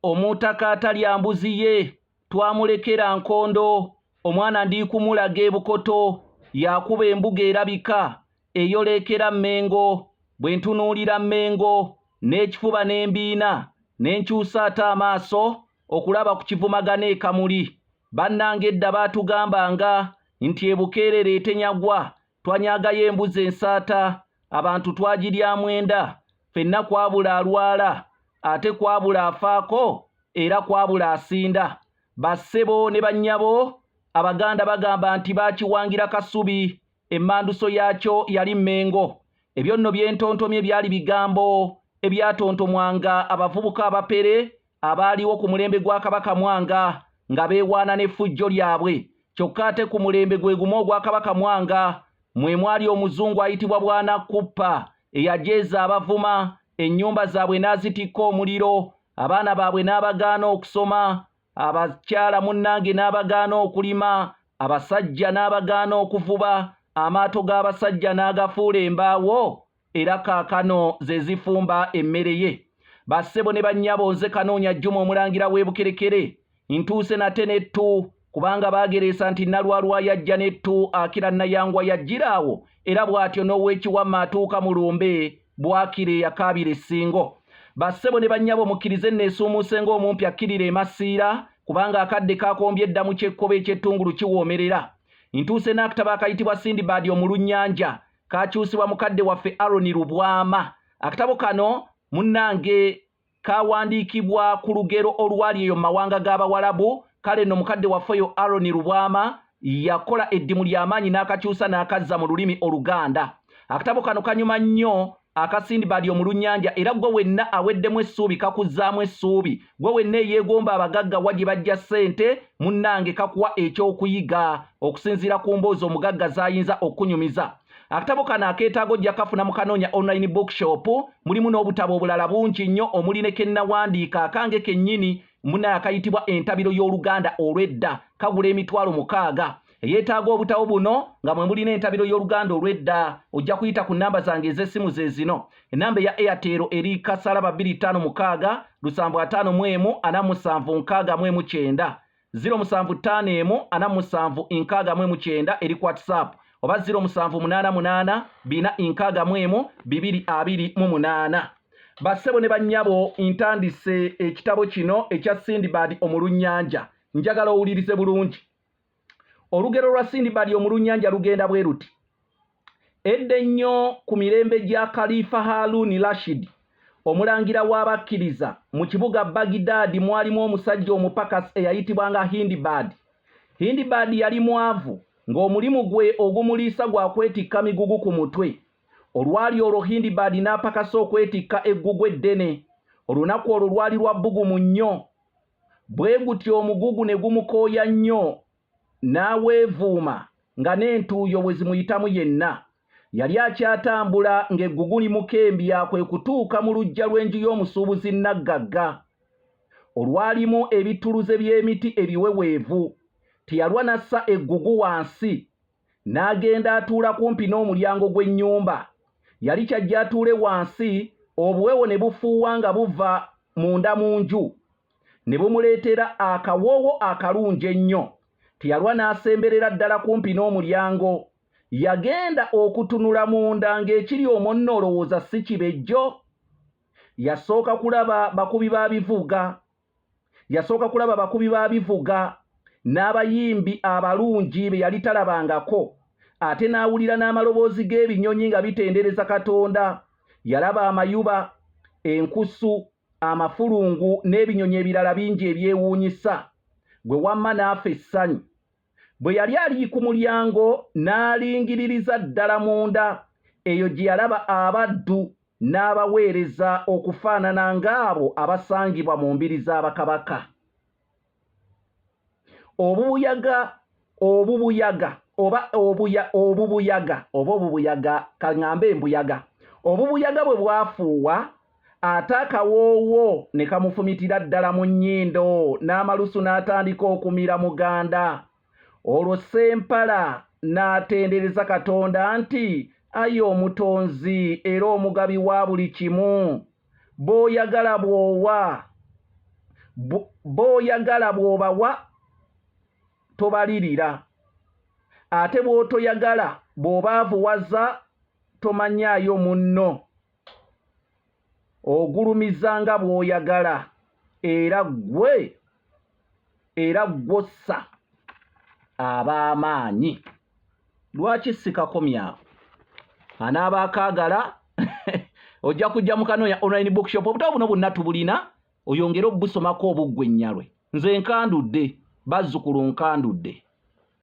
Omutaka atalya mbuzi ye twamulekera nkondo omwana ndiikumulaga ebukoto yakuba embuga erabika eyoleekera Mmengo bwe ntunuulira Mmengo n'ekifuba n'embiina ne nkyusa ate amaaso okulaba ku kivumagana e Kamuli. Bannange edda baatugambanga nti e Bukeerere etenyagwa Twanyagayo embuzi ensaata, abantu twagiryamu enda, fenna kwabula alwala, ate kwabula afaako era kwabula asinda. Bassebo ne bannyabo, Abaganda bagamba nti baakiwangira Kasubi, emmanduso yaakyo yali Mmengo. Ebyo nno bye ntontomye byali bigambo ebyatontomwanga abavubuka abapere abaaliwo ku mulembe gwa kabaka mwanga nga beewaana n'effujjo lyabwe kyokka ate ku mulembe gwe gumu ogwa kabaka mwanga mwe mwali omuzungu ayitibwa bwana kuppa eyajeeza abavuma ennyumba zaabwe n'azitikka omuliro abaana baabwe n'abagaana okusoma abakyala munnange n'abagaana okulima abasajja n'abagaana okuvuba amaato g'abasajja n'agafuula embaawo era kaakano ze zifumba emmere ye bassebo ne bannyabo nze kanoonya jjuma omulangira w'ebukerekere ntuuse nate n'ettu kubanga baagereesa nti nalwalwa yajja n'ettu akira nayangwa yajjira awo era bw'atyo n'ow'ekiwamma atuuka mu lumbe bwakira eyakaabira essingo bassebo ne bannyabo mukkirize nneesuumuuse ng'omumpi akkirira emasiira kubanga akadde kaakombye edda mu kyekkoba eky'ettungulu kiwoomerera ntuuse n'akatabo akayitibwa sindibaadi omulunnyanja kakyusibwa mukadde waffe Aaron Lubwama. Akatabo kano munnange kawandiikibwa ku lugero olwali eyo mu mawanga g'Abawalabu, kale nno mukadde waffe oyo Aaron Lubwama yakola eddimu ly'amaanyi n'akakyusa n'akazza mu lulimi Oluganda. Akatabo kano kanyuma nnyo akasindibali omulunnyanja era gwe wenna aweddemu essuubi kakuzzaamu essuubi gwe wenna eyeegomba abagagga wa gye bajja ssente munnange kakuwa ekyokuyiga okusinziira ku mboozi omugagga z'ayinza okunyumiza akatabo kano akeetaaga ojja kafuna mu kanoonya online bookshop mulimu n'obutabo obulala bungi nnyo omuli ne kennawandiika akange kennyini munaye akayitibwa entabiro y'oluganda olw'edda kagula emitwalo mukaaga eyeetaaga obutabo buno nga mwe mulina entabiro y'oluganda olw'edda ojja kuyita ku nnamba zange ez'essimu ze zino ennamba eya airtel eri kasala babiri ttaano mukaaga lusanvu ataano mu emu ana musanvu nkaaga mu emu kyenda ziro musanvu ttaano emu ana musanvu nkaaga mu emu kyenda eri ku whatsapp oba ziro musanvu munaana munaana bina nkaaga mu emu bibiri abiri mu munaana bassebo ne bannyabo ntandise ekitabo kino ekya sindibad omulunnyanja njagala owulirize bulungi olugero lwa sindibadi omulunnyanja lugenda bwe luti edda ennyo ku mirembe gya kalifa haluuni rashidi omulangira w'abakkiriza mu kibuga bagidaadi mwalimu omusajja omupakasi eyayitibwanga hindibaadi hindibaadi yali mwavu ng'omulimu gwe ogumuliisa gwa kwetikka migugu ku mutwe olwali olwo hindibaadi n'apakasa okwetikka eggugu eddene olunaku olwo lwali lwa bbugumu nnyo Bwe gutyo omugugu ne gumukooya nnyo n'aweevuuma nga n'entuuyo bwe zimuyitamu yenna. Yali akyatambula ng'eggugu limukembya kwe kutuuka mu luggya lw'enju y'omusuubuzi nnaggagga olwalimu ebittuluze by'emiti ebiweweevu. Teyalwa n'assa eggugu wansi n'agenda atuula kumpi n'omulyango gw'ennyumba yali kyajja atuule wansi obuwewo ne bufuuwa nga buva munda mu nju ne bumuleetera akawoowo akalungi ennyo teyalwa n'asemberera ddala kumpi n'omulyango yagenda okutunula munda ng'ekiri omwo nno olowooza si kibejjo yasooka kulaba bakubi ba bivuga Yasooka kulaba bakubi ba bivuga n'abayimbi abalungi be yali talabangako, ate n'awulira n'amaloboozi g'ebinyonyi nga bitendereza Katonda. Yalaba amayuba, enkusu, amafulungu n'ebinyonyi ebirala bingi ebyewuunyisa. Gwe wamma n'afa essanyu. Bwe yali ali ku mulyango, n'alingiririza ddala munda. Eyo gye yalaba abaddu n'abaweereza okufaanana ng'abo abasangibwa mu mbiri za bakabaka. Obubuyaga, obubuyaga, oba obuya, obubuyaga, oba obubuyaga, ka ŋŋambe embuyaga. Obubuyaga bwe bwafuuwa, ate akawoowo ne kamufumitira ddala mu nnyindo n'amalusu n'atandika okumira muganda olwo sempala n'atendereza katonda nti ayi omutonzi era omugabi wa buli kimu b'oyagala bw'owa b'oyagala bw'obawa tobalirira ate bw'otoyagala bw'obaavuwaza tomanyaayo munno ogulumiza nga bw'oyagala era ggwe era ggwossa ab'amaanyi lwaki sikakomyawo anaaba akaagala ojja kujja mukanoonya online bookshop obutabo buno bwonna tubulina oyongere obubusomako obuggwe ennyalwe nze nkandudde bazzukulu nkandudde